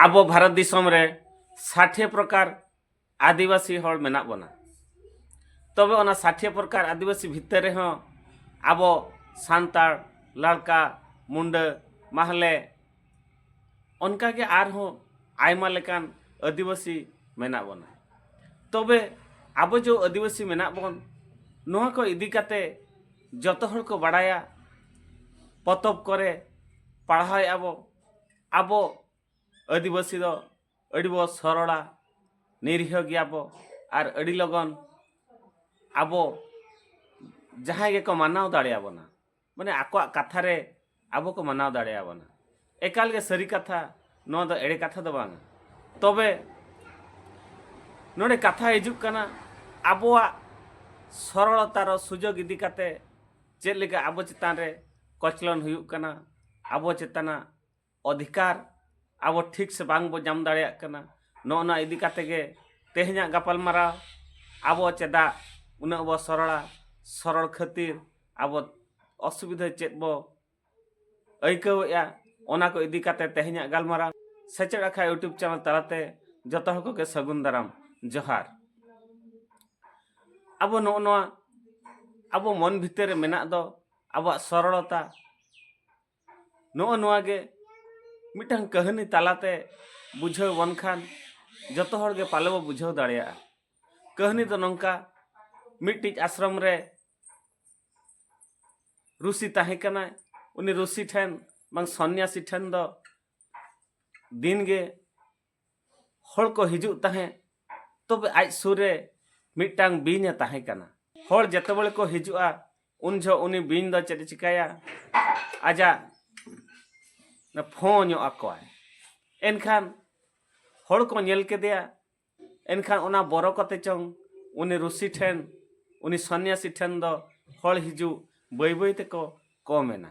ᱟᱵᱚ ᱵᱷᱟᱨᱚᱛ ᱫᱤᱥᱚᱢ ᱨᱮ ᱥᱟᱴᱷᱮ ᱯᱨᱚᱠᱟᱨ ᱟᱹᱫᱤᱵᱟᱹᱥᱤ ᱦᱚᱲ ᱢᱮᱱᱟᱜ ᱵᱚᱱᱟ ᱛᱚᱵᱮ ᱚᱱᱟ ᱥᱟᱴᱷᱮ ᱯᱨᱚᱠᱟᱨ ᱟᱹᱫᱤᱵᱟᱹᱥᱤ ᱵᱷᱤᱛᱟᱹᱨ ᱨᱮᱦᱚᱸ ᱟᱵᱚ ᱥᱟᱱᱛᱟᱲ ᱞᱟᱲᱠᱟ ᱢᱩᱱᱰᱟᱹ ᱢᱟᱦᱞᱮ ᱚᱱᱠᱟ ᱜᱮ ᱟᱨᱦᱚᱸ ᱟᱭᱢᱟ ᱞᱮᱠᱟᱱ ᱟᱹᱫᱤᱵᱟᱹᱥᱤ ᱢᱮᱱᱟᱜ ᱵᱚᱱᱟ ᱛᱚᱵᱮ ᱟᱵᱚ ᱡᱚ ᱟᱹᱫᱤᱵᱟᱹᱥᱤ ᱢᱮᱱᱟᱜ ᱵᱚᱱ ᱱᱚᱣᱟ ᱠᱚ ᱤᱫᱤ ᱠᱟᱛᱮ ᱡᱚᱛᱚ ᱦᱚᱲ ᱠᱚ ᱵᱟᱲᱟᱭᱟ ᱯᱚᱛᱚᱵ ᱠᱚᱨᱮ ᱯᱟᱲᱦᱟᱣᱮᱫ ᱟᱵᱚ ᱟᱵᱚ ᱟᱹᱫᱤᱵᱟᱹᱥᱤ ᱫᱚ ᱟᱹᱰᱤ ᱵᱚ ᱥᱚᱨᱚᱲᱟ ᱱᱤᱨᱤᱦᱚ ᱜᱮᱭᱟ ᱵᱚ ᱟᱨ ᱟᱹᱰᱤ ᱞᱚᱜᱚᱱ ᱟᱵᱚ ᱡᱟᱦᱟᱸᱭ ᱜᱮᱠᱚ ᱢᱟᱱᱟᱣ ᱫᱟᱲᱮᱭᱟᱵᱚᱱᱟ ᱢᱟᱱᱮ ᱟᱠᱚᱣᱟᱜ ᱠᱟᱛᱷᱟ ᱨᱮ ᱟᱵᱚ ᱠᱚ ᱢᱟᱱᱟᱣ ᱫᱟᱲᱮᱭᱟ ᱵᱚᱱᱟ ᱮᱠᱟᱞ ᱜᱮ ᱥᱟᱹᱨᱤ ᱠᱟᱛᱷᱟ ᱱᱚᱣᱟ ᱫᱚ ᱮᱲᱮ ᱠᱟᱛᱷᱟ ᱫᱚ ᱵᱟᱝ ᱛᱚᱵᱮ ᱱᱚᱰᱮ ᱠᱟᱛᱷᱟ ᱦᱤᱡᱩᱜ ᱠᱟᱱᱟ ᱟᱵᱚᱣᱟᱜ ᱥᱚᱨᱚᱲᱚᱛᱟ ᱨᱮ ᱥᱩᱡᱳᱜᱽ ᱤᱫᱤ ᱠᱟᱛᱮ ᱪᱮᱫ ᱞᱮᱠᱟ ᱟᱵᱚ ᱪᱮᱛᱟᱱ ᱨᱮ ᱠᱚᱪᱞᱚᱱ ᱦᱩᱭᱩᱜ ᱠᱟᱱᱟ ᱟᱵᱚ ᱪᱮᱛᱟᱱᱟᱜ ᱚᱫᱷᱤᱠᱟᱨ ᱟᱵᱚ ᱴᱷᱤᱠ ᱥᱮ ᱵᱟᱝ ᱵᱚ ᱧᱟᱢ ᱫᱟᱲᱮᱭᱟᱜ ᱠᱟᱱᱟ ᱱᱚᱜᱼᱚ ᱱᱚᱣᱟ ᱤᱫᱤ ᱠᱟᱛᱮ ᱜᱮ ᱛᱮᱦᱮᱧᱟᱜ ᱜᱟᱯᱟᱞ ᱢᱟᱨᱟᱣ ᱟᱵᱚ ᱪᱮᱫᱟᱜ ᱩᱱᱟᱹᱜ ᱵᱚ ᱥᱚᱨᱚᱲᱟ ᱥᱚᱨᱚᱲ ᱠᱷᱟᱹᱛᱤᱨ ᱟᱵᱚ ᱚᱥᱩᱵᱤᱫᱷᱟ ᱪᱮᱫ ᱵᱚ ᱟᱹᱭᱠᱟᱹᱣᱮᱜᱼᱟ ᱚᱱᱟ ᱠᱚ ᱤᱫᱤ ᱠᱟᱛᱮ ᱛᱮᱦᱮᱧᱟᱜ ᱜᱟᱞᱢᱟᱨᱟᱣ ᱥᱮᱪᱮᱫ ᱟᱠᱷᱲᱟ ᱤᱭᱩᱴᱩᱵᱽ ᱪᱮᱱᱮᱞ ᱛᱟᱞᱟᱛᱮ ᱡᱚᱛᱚ ᱦᱚᱲ ᱠᱚᱜᱮ ᱥᱟᱹᱜᱩᱱ ᱫᱟᱨᱟᱢ ᱡᱚᱦᱟᱨ ᱟᱵᱚ ᱱᱚᱜᱼᱚ ᱱᱚᱣᱟ ᱟᱵᱚ ᱢᱚᱱ ᱵᱷᱤᱛᱤᱨ ᱨᱮ ᱢᱮᱱᱟᱜ ᱫᱚ ᱟᱵᱚᱣᱟᱜ ᱥᱚᱨᱚᱲᱚᱛᱟ ᱱᱚᱜᱼᱚ ᱱᱚᱣᱟ ᱜᱮ ᱢᱤᱫᱴᱟᱝ ᱠᱟᱹᱦᱱᱤ ᱛᱟᱞᱟᱛᱮ ᱵᱩᱡᱷᱟᱹᱣ ᱵᱚᱱ ᱠᱷᱟᱱ ᱡᱚᱛᱚ ᱦᱚᱲ ᱜᱮ ᱯᱟᱞᱮ ᱵᱚ ᱵᱩᱡᱷᱟᱹᱣ ᱫᱟᱲᱮᱭᱟᱜᱼᱟ ᱠᱟᱹᱦᱱᱤ ᱫᱚ ᱱᱚᱝᱠᱟ ᱢᱤᱫᱴᱤᱡ ᱟᱥᱨᱚᱢ ᱨᱮ ᱨᱩᱥᱤ ᱛᱟᱦᱮᱸ ᱠᱟᱱᱟᱭ ᱩᱱᱤ ᱨᱩᱥᱤ ᱴᱷᱮᱱ ᱵᱟᱝ ᱥᱚᱱᱱᱟᱥᱤ ᱴᱷᱮᱱ ᱫᱚ ᱫᱤᱱ ᱜᱮ ᱦᱚᱲ ᱠᱚ ᱦᱤᱡᱩᱜ ᱛᱟᱦᱮᱸᱫ ᱛᱚᱵᱮ ᱟᱡ ᱥᱩᱨ ᱨᱮ ᱢᱤᱫᱴᱟᱝ ᱵᱤᱧ ᱮ ᱛᱟᱦᱮᱸ ᱠᱟᱱᱟ ᱦᱚᱲ ᱡᱮᱛᱮ ᱵᱮᱲᱮ ᱠᱚ ᱦᱤᱡᱩᱜᱼᱟ ᱩᱱ ᱡᱷᱚᱜ ᱩᱱᱤ ᱵᱤᱧ ᱫᱚ ᱪᱮᱫ ᱮ ᱪᱤᱠᱟᱹᱭᱟ ᱟᱡᱟᱜ ᱯᱷᱚ ᱧᱚᱜ ᱟᱠᱚᱣᱟᱭ ᱮᱱᱠᱷᱟᱱ ᱦᱚᱲ ᱠᱚ ᱧᱮᱞ ᱠᱮᱫᱮᱭᱟ ᱮᱱᱠᱷᱟᱱ ᱚᱱᱟ ᱵᱚᱨᱚ ᱠᱟᱛᱮ ᱪᱚᱝ ᱩᱱᱤ ᱨᱩᱥᱤ ᱴᱷᱮᱱ ᱩᱱᱤ ᱥᱚᱱᱱᱟᱥᱤ ᱴᱷᱮᱱ ᱫᱚ ᱦᱚᱲ ᱦᱤᱡᱩᱜ ᱵᱟᱹᱭ ᱵᱟᱹᱭ ᱛᱮᱠᱚ ᱠᱚᱢ ᱮᱱᱟ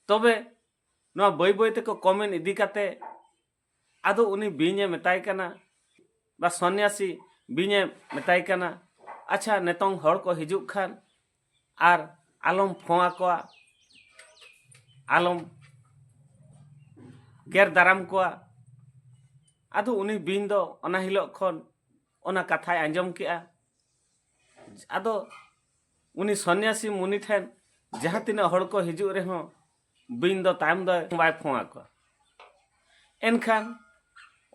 ᱛᱚᱵᱮ ᱱᱚᱣᱟ ᱵᱟᱹᱭ ᱵᱟᱹᱭ ᱛᱮᱠᱚ ᱠᱚᱢᱮᱱ ᱤᱫᱤ ᱠᱟᱛᱮ ᱟᱫᱚ ᱩᱱᱤ ᱵᱤᱧᱮ ᱢᱮᱛᱟᱭ ᱠᱟᱱᱟ ᱵᱟ ᱥᱚᱱᱱᱟᱥᱤ ᱵᱤᱧᱮ ᱢᱮᱛᱟᱭ ᱠᱟᱱᱟ ᱟᱪᱪᱷᱟ ᱱᱤᱛᱚᱝ ᱦᱚᱲ ᱠᱚ ᱦᱤᱡᱩᱜ ᱠᱷᱟᱱ ᱟᱨ ᱟᱞᱚᱢ ᱯᱷᱚᱸ ᱟᱠᱚᱣᱟ ᱟᱞᱚᱢ ᱜᱮᱨ ᱫᱟᱨᱟᱢ ᱠᱚᱣᱟ ᱟᱫᱚ ᱩᱱᱤ ᱵᱤᱧ ᱫᱚ ᱚᱱᱟ ᱦᱤᱞᱳᱜ ᱠᱷᱚᱱ ᱚᱱᱟ ᱠᱟᱛᱷᱟᱭ ᱟᱸᱡᱚᱢ ᱠᱮᱜᱼᱟ ᱟᱫᱚ ᱩᱱᱤ ᱥᱚᱱᱱᱟᱥᱤ ᱢᱩᱱᱤ ᱴᱷᱮᱱ ᱡᱟᱦᱟᱸ ᱛᱤᱱᱟᱹᱜ ᱦᱚᱲ ᱠᱚ ᱦᱤᱡᱩᱜ ᱨᱮᱦᱚᱸ ᱵᱤᱧ ᱫᱚ ᱛᱟᱭᱚᱢ ᱫᱚ ᱵᱟᱭ ᱯᱷᱚᱸ ᱟᱠᱚ ᱮᱱᱠᱷᱟᱱ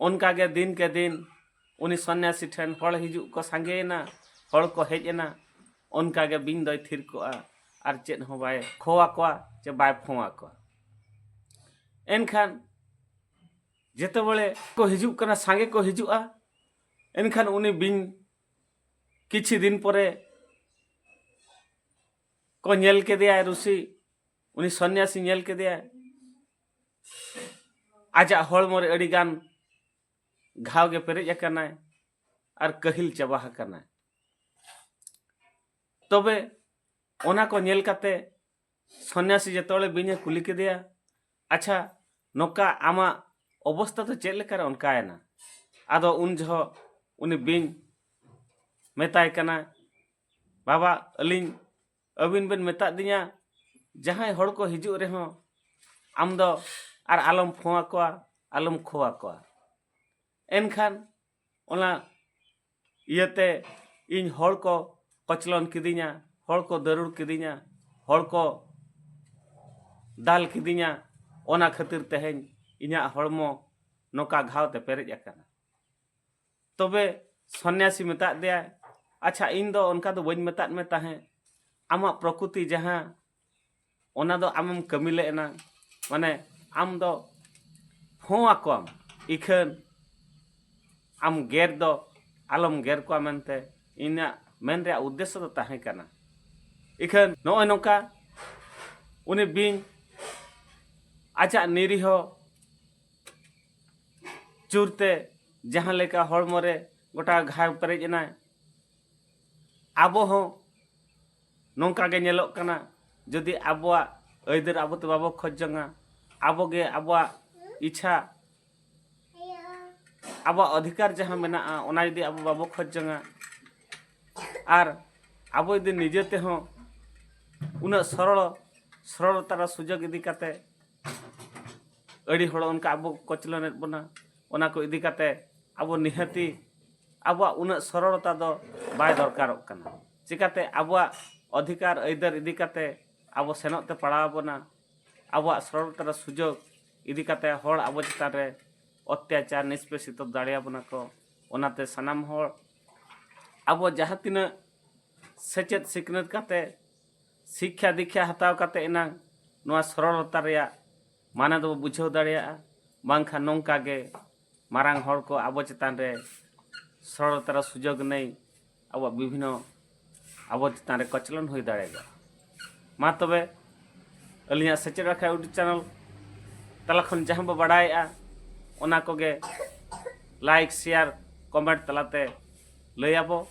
ᱚᱱᱠᱟ ᱜᱮ ᱫᱤᱱ ᱠᱮ ᱫᱤᱱ ᱩᱱᱤ ᱥᱚᱱᱱᱟᱥᱤ ᱴᱷᱮᱱ ᱦᱚᱲ ᱦᱤᱡᱩᱜ ᱠᱚ ᱥᱟᱸᱜᱮᱭᱮᱱᱟ ᱦᱚᱲ ᱠᱚ ᱦᱮᱡ ᱮᱱᱟ ᱚᱱᱠᱟ ᱜᱮ ᱵᱤᱧ ᱫᱚᱭ ᱛᱷᱤᱨ ᱠᱚᱜᱼᱟ ᱟᱨ ᱪᱮᱫ ᱦᱚᱸ ᱵᱟᱭ ᱠᱷᱚ ᱟᱠᱚᱣᱟ ᱪᱮ ᱵᱟᱭ ᱯᱷᱚᱸ ᱟᱠᱚᱣᱟ ᱮᱱᱠᱷᱟᱱ ᱡᱮᱛᱮ ᱵᱮᱲᱮ ᱠᱚ ᱦᱤᱡᱩᱜ ᱠᱟᱱᱟ ᱥᱟᱸᱜᱮ ᱠᱚ ᱦᱤᱡᱩᱜᱼᱟ ᱮᱱᱠᱷᱟᱱ ᱩᱱᱤ ᱵᱤᱧ ᱠᱤᱪᱷᱩ ᱫᱤᱱ ᱯᱚᱨᱮ ᱠᱚ ᱧᱮᱞ ᱠᱮᱫᱮᱭᱟ ᱨᱩᱥᱤ ᱩᱱᱤ ᱥᱚᱱᱱᱭᱟᱥᱤ ᱧᱮᱞ ᱠᱮᱫᱮᱭᱟᱭ ᱟᱡᱟᱜ ᱦᱚᱲᱢᱚ ᱨᱮ ᱟᱹᱰᱤ ᱜᱟᱱ ᱜᱷᱟᱣ ᱜᱮ ᱯᱮᱨᱮᱡ ᱟᱠᱟᱱᱟᱭ ᱟᱨ ᱠᱟᱹᱦᱤᱞ ᱪᱟᱵᱟ ᱟᱠᱟᱱᱟᱭ ᱛᱚᱵᱮ ᱚᱱᱟ ᱠᱚ ᱧᱮᱞ ᱠᱟᱛᱮ ᱥᱚᱱᱱᱭᱟᱥᱤ ᱡᱚᱛᱚᱣᱟᱲᱮ ᱵᱤᱧᱮ ᱠᱩᱞᱤ ᱠᱮᱫᱮᱭᱟ ᱟᱪᱪᱷᱟ ᱱᱚᱝᱠᱟ ᱟᱢᱟᱜ ᱚᱵᱚᱥᱛᱟ ᱫᱚ ᱪᱮᱫ ᱞᱮᱠᱟᱨᱮ ᱚᱱᱠᱟᱭᱮᱱᱟ ᱟᱫᱚ ᱩᱱ ᱡᱚᱦᱚᱜ ᱩᱱᱤ ᱵᱤᱧ ᱢᱮᱛᱟᱭ ᱠᱟᱱᱟ ᱵᱟᱵᱟ ᱟᱹᱞᱤᱧ ᱟᱹᱵᱤᱱ ᱵᱮᱱ ᱢᱮᱛᱟᱫ ᱫᱤᱧᱟ ᱡᱟᱦᱟᱸᱭ ᱦᱚᱲ ᱠᱚ ᱦᱤᱡᱩᱜ ᱨᱮᱦᱚᱸ ᱟᱢ ᱫᱚ ᱟᱨ ᱟᱞᱚᱢ ᱯᱷᱳᱱ ᱟᱠᱚᱣᱟ ᱟᱞᱚᱢ ᱠᱷᱚ ᱟᱠᱚᱣᱟ ᱮᱱᱠᱷᱟᱱ ᱚᱱᱟ ᱤᱭᱟᱹᱛᱮ ᱤᱧ ᱦᱚᱲ ᱠᱚ ᱠᱚᱪᱞᱚᱱ ᱠᱤᱫᱤᱧᱟ ᱦᱚᱲ ᱠᱚ ᱫᱟᱹᱨᱩᱲ ᱠᱤᱫᱤᱧᱟ ᱦᱚᱲ ᱠᱚ ᱫᱟᱞ ᱠᱤᱫᱤᱧᱟ ᱚᱱᱟ ᱠᱷᱟᱹᱛᱤᱨ ᱛᱮᱦᱮᱧ ᱤᱧᱟᱹᱜ ᱦᱚᱲᱢᱚ ᱱᱚᱝᱠᱟ ᱜᱷᱟᱣ ᱛᱮ ᱯᱮᱨᱮᱡ ᱟᱠᱟᱱᱟ ᱛᱚᱵᱮ ᱥᱚᱱᱱᱟᱥᱤ ᱢᱮᱛᱟᱫ ᱫᱮᱭᱟᱭ ᱟᱪᱪᱷᱟ ᱤᱧ ᱫᱚ ᱚᱱᱠᱟ ᱫᱚ ᱵᱟᱹᱧ ᱢᱮᱛᱟᱫ ᱢᱮ ᱛᱟᱦᱮᱸᱫ ᱟᱢᱟᱜ ᱯᱨᱚᱠᱨᱤᱛᱤ ᱡᱟᱦᱟᱸ ᱚᱱᱟ ᱫᱚ ᱟᱢᱮᱢ ᱠᱟᱹᱢᱤ ᱞᱮᱫ ᱮᱱᱟ ᱢᱟᱱᱮ ᱟᱢ ᱫᱚ ᱦᱚᱸ ᱟᱠᱚᱣᱟᱢ ᱤᱠᱷᱟᱹᱱ ᱟᱢ ᱜᱮᱨ ᱫᱚ ᱟᱞᱚᱢ ᱜᱮᱨ ᱠᱚᱣᱟ ᱢᱮᱱᱛᱮ ᱤᱧᱟᱹᱜ ᱢᱮᱱ ᱨᱮᱭᱟᱜ ᱩᱫᱽᱫᱮᱥᱥᱚ ᱫᱚ ᱛᱟᱦᱮᱸ ᱠᱟᱱᱟ ᱤᱠᱷᱟᱹᱱ ᱱᱚᱜᱼᱚᱭ ᱱᱚᱝᱠᱟ ᱩᱱᱤ ᱵᱤᱧ ᱟᱡᱟᱜ ᱱᱤᱨᱤᱦᱚ ᱪᱩᱨᱛᱮ ᱡᱟᱦᱟᱸ ᱞᱮᱠᱟ ᱦᱚᱲᱢᱚ ᱨᱮ ᱜᱚᱴᱟ ᱜᱷᱟᱣ ᱯᱮᱨᱮᱡ ᱮᱱᱟᱭ ᱟᱵᱚ ᱦᱚᱸ ᱱᱚᱝᱠᱟ ᱜᱮ ᱧᱮᱞᱚᱜ ᱠᱟᱱᱟ ᱡᱩᱫᱤ ᱟᱵᱚᱣᱟᱜ ᱟᱹᱭᱫᱟᱹᱨ ᱟᱵᱚ ᱛᱮ ᱵᱟᱵᱚ ᱠᱷᱚᱡ ᱡᱚᱝᱟ ᱟᱵᱚ ᱜᱮ ᱟᱵᱚᱣᱟᱜ ᱤᱪᱪᱷᱟ ᱟᱵᱚᱣᱟᱜ ᱚᱫᱷᱤᱠᱟᱨ ᱡᱟᱦᱟᱸ ᱢᱮᱱᱟᱜᱼᱟ ᱚᱱᱟ ᱡᱩᱫᱤ ᱟᱵᱚ ᱵᱟᱵᱚ ᱠᱷᱚᱡ ᱡᱚᱝᱟ ᱟᱨ ᱟᱵᱚ ᱡᱩᱫᱤ ᱱᱤᱡᱮ ᱛᱮᱦᱚᱸ ᱩᱱᱟᱹᱜ ᱥᱚᱨᱚᱲ ᱥᱚᱨᱚᱲᱛᱟ ᱨᱮ ᱥᱩᱡᱳᱜᱽ ᱤᱫᱤ ᱠᱟᱛᱮ ᱟᱹᱰᱤ ᱦᱚᱲ ᱚᱱᱠᱟ ᱟᱵᱚ ᱠᱚᱪᱞᱚᱱᱮᱫ ᱵᱚᱱᱟ ᱚᱱᱟ ᱠᱚ ᱤᱫᱤ ᱠᱟᱛᱮ ᱟᱵᱚ ᱱᱤᱦᱟᱹᱛᱤ ᱟᱵᱚᱣᱟᱜ ᱩᱱᱟᱹᱜ ᱥᱚᱨᱚᱲᱚᱛᱟ ᱫᱚ ᱵᱟᱭ ᱫᱚᱨᱠᱟᱨᱚᱜ ᱠᱟᱱᱟ ᱪᱤᱠᱟᱹᱛᱮ ᱟᱵᱚᱣᱟᱜ ᱚᱫᱷᱤᱠᱟᱨ ᱟᱹᱭᱫᱟᱹᱨ ᱤᱫᱤ ᱠᱟᱛᱮ ᱟᱵᱚ ᱥᱮᱱᱚᱜ ᱛᱮ ᱯᱟᱲᱟᱣ ᱟᱵᱚᱱᱟ ᱟᱵᱚᱣᱟᱜ ᱥᱚᱨᱚᱲᱚᱛᱟ ᱨᱮ ᱥᱩᱡᱳᱜᱽ ᱤᱫᱤ ᱠᱟᱛᱮ ᱦᱚᱲ ᱟᱵᱚ ᱪᱮᱛᱟᱱ ᱨᱮ ᱚᱛᱛᱟᱪᱟᱨ ᱱᱤᱥᱯᱮᱥᱤᱛᱚ ᱫᱟᱲᱮᱭᱟᱵᱚᱱᱟ ᱠᱚ ᱚᱱᱟᱛᱮ ᱥᱟᱱᱟᱢ ᱦᱚᱲ ᱟᱵᱚ ᱡᱟᱦᱟᱸ ᱛᱤᱱᱟᱹᱜ ᱥᱮᱪᱮᱫ ᱥᱤᱠᱷᱱᱟᱹᱛ ᱠᱟᱛᱮ ᱥᱤᱠᱠᱷᱟ ᱫᱤᱠᱠᱷᱟ ᱦᱟᱛᱟᱣ ᱠᱟᱛᱮ ᱮᱱᱟᱝ ᱱᱚᱣᱟ ᱥᱚᱨᱚᱞᱚᱛᱟ ᱨᱮᱭᱟᱜ ᱢᱟᱱᱮ ᱫᱚᱵᱚ ᱵᱩᱡᱷᱟᱹᱣ ᱫᱟᱲᱮᱭᱟᱜᱼᱟ ᱵᱟᱝᱠᱷᱟᱱ ᱱᱚᱝᱠᱟ ᱜᱮ ᱢᱟᱨᱟᱝ ᱦᱚᱲ ᱠᱚ ᱟᱵᱚ ᱪᱮᱛᱟᱱ ᱨᱮ ᱥᱚᱨᱚᱞᱚᱛᱟ ᱨᱮ ᱥᱩᱡᱳᱜᱽ ᱱᱟᱹᱭ ᱟᱵᱚᱣᱟᱜ ᱵᱤᱵᱷᱤᱱᱱᱚ ᱟᱵᱚ ᱪᱮᱛᱟᱱ ᱨᱮ ᱠᱚᱪᱞᱚᱱ ᱦᱩᱭ ᱫᱟᱲᱮᱭᱟᱜᱼᱟ ᱢᱟ ᱛᱚᱵᱮ ᱟᱹᱞᱤᱧᱟᱜ ᱥᱮᱪᱮᱫ ᱨᱟᱠᱷᱟ ᱤᱭᱩᱴᱩᱵᱽ ᱪᱮᱱᱮᱞ ᱛᱟᱞᱟ ᱠᱷᱚᱱ ᱡᱟᱦᱟᱸ ᱵᱚ ᱵᱟᱰᱟᱭᱮᱜᱼᱟ ᱚᱱᱟ ᱠᱚᱜᱮ ᱞᱟᱭᱤᱠ ᱥᱮᱭᱟᱨ ᱠᱚᱢᱮᱱᱴ ᱛᱟᱞᱟᱛᱮ ᱞᱟᱹᱭᱟᱵᱚ